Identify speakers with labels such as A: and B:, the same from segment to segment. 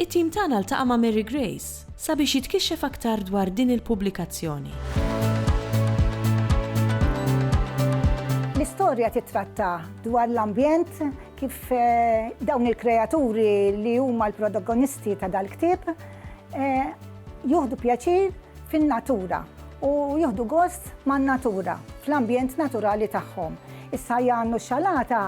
A: It-tim tagħna ltaqa' ma' Mary Grace sabiex jitkixxef aktar dwar din il-pubblikazzjoni.
B: L-istorja tittratta dwar l-ambjent kif eh, dawn il-kreaturi li huma l-protagonisti ta' dal-ktieb eh, juhdu pjaċir fin-natura u juhdu gost man-natura fl-ambjent naturali tagħhom. Issa Jannu xalata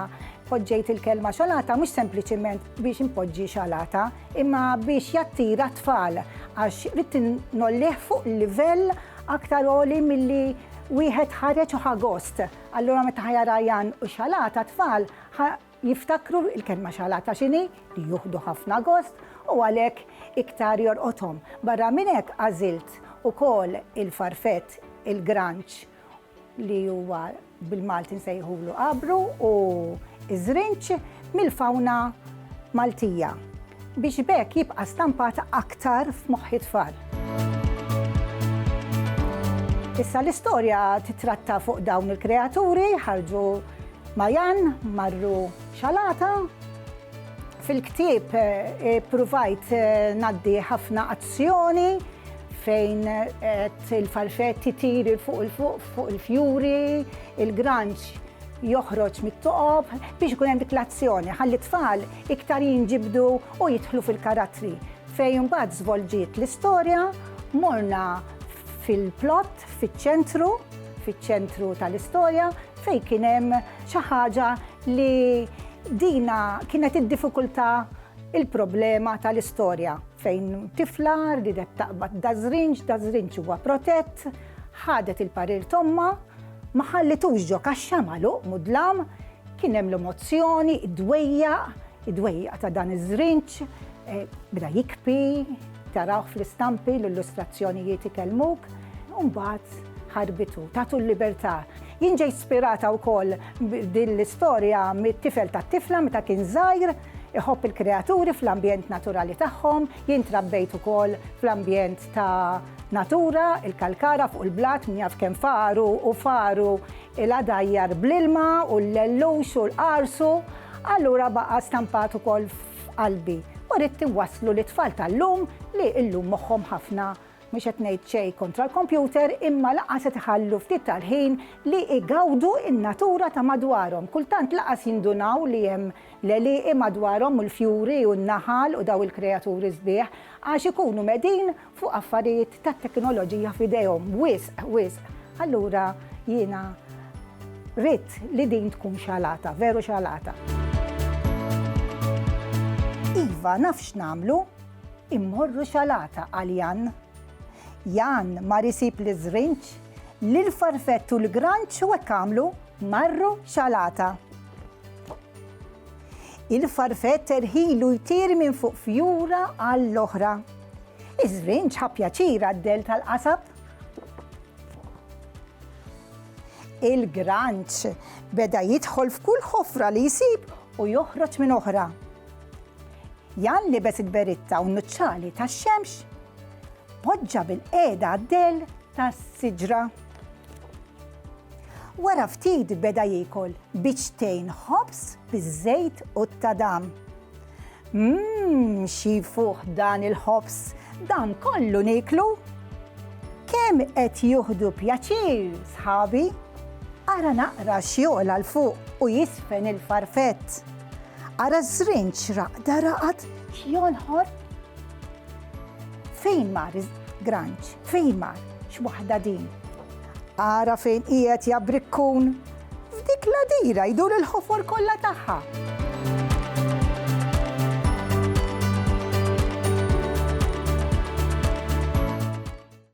B: poġġejt il-kelma xalata mhux sempliċiment biex inpoġġi xalata, imma biex jattira tfal għax ridt nollih fuq livell aktar għoli milli wieħed ħareġ u ħa gost. Allura meta ħajara Jan u xalata tfal jiftakru il-kelma xalata x'inhi li juħdu ħafna gost u għalhekk iktar jorqothom. Barra minn hekk għażilt ukoll il-farfett, il-granċ, li huwa bil-Malti nsejħulu qabru u ż-żrinġ mill-fawna Maltija biex b'hekk jibqa' stampat aktar f'moħħ it-tfal. Issa l-istorja titratta fuq dawn il-kreaturi, ħarġu Mayan, marru Xalata. Fil-ktieb ippruvajt ngħaddi ħafna azzjoni fejn il-farfetti tiri fuq il-fuq fuq il-fjuri, il-granċ joħroġ mit-toqob biex ikun hemm dik l-azzjoni. Ħalli tfal iktar jinġibdu u jidħlu fil-karattri. Fejn mbagħad żvolġiet l-istorja, morna fil-plott, fiċ-ċentru, fiċ-ċentru tal-istorja, fejn kien hemm xi ħaġa li dina kienet id-diffikultà il-problema tal-istorja fejn tifla ridet taqbad dażrinġ, dażrinġ huwa protett, ħadet il-parir tomma, ma ħallitux ġo kaxxa magħluq mudlam, kien hemm l-emozzjoni, id-dwejja, id-dwejja ta' dan iż-żrinġ, eh, bda jikpi, taraw fl-istampi l-illustrazzjonijiet ikellmuk, u mbagħad ħarbitu, tatu l-libertà. Jinġej ispirata wkoll din l-istorja mit-tifel tat-tifla meta kien żgħir, Iħobb il-kreaturi fl-ambjent naturali tagħhom, jien trabbejt ukoll fl-ambjent ta' natura, il-kalkara fuq il-blat min jaf kemm faru u faru il-għadajjar bl-ilma u l-lellux u l-qarsu, allura baqa' stampat ukoll f'qalbi u ridt inwasslu lit-tfal tal-lum li llum moħħhom ħafna Mhux qed ngħid xejn kontra l-kompjuter imma lanqas qed iħallu ftit tal-ħin li igawdu n-natura ta' madwarhom. Kultant lanqas jindunaw li hemm l-għelieqi madwarhom u l-fjuri u n-naħal u daw il-kreaturi sbieħ għax ikunu medin fuq affarijiet tat-teknoloġija f'idejhom wisq, wisq. Allura jiena ridt li din tkun xalata, veru xalata. Iva, naf x'nagħmlu. Immorru xalata għal Jan. Jan mar isib liż-żrinġ, lill-farfett u l-granċ u hekk għamlu marru xalata. Il-farfett erħilu jtir minn fuq fjura għall-oħra. Iż-żrinġ ħa pjaċir għad-dell tal-qasab. Il-granċ beda jidħol f'kull ħofra li jsib u joħroġ minn oħra. Jan libes il-beritta u n-nuċċali tax-xemx, poġġa bil-qiegħda d-dell tas-siġra. Wara ftit beda jiekol biċċtejn ħobż biż-żejt u t-tadam. Mmm, xi fuħ dan il-ħobż, dan kollu niklu? Kemm qed juħdu pjaċir, sħabi? Ara naqra xjola l-fuq u jisfen il-farfett. Ara żrin xraq daraqat xjonħor. Fejn mar granċ, fejn mar x'waħda din. Ara fejn qiegħed jabrikkun, f'dik l-adira jdur il-ħofor kollha tagħha.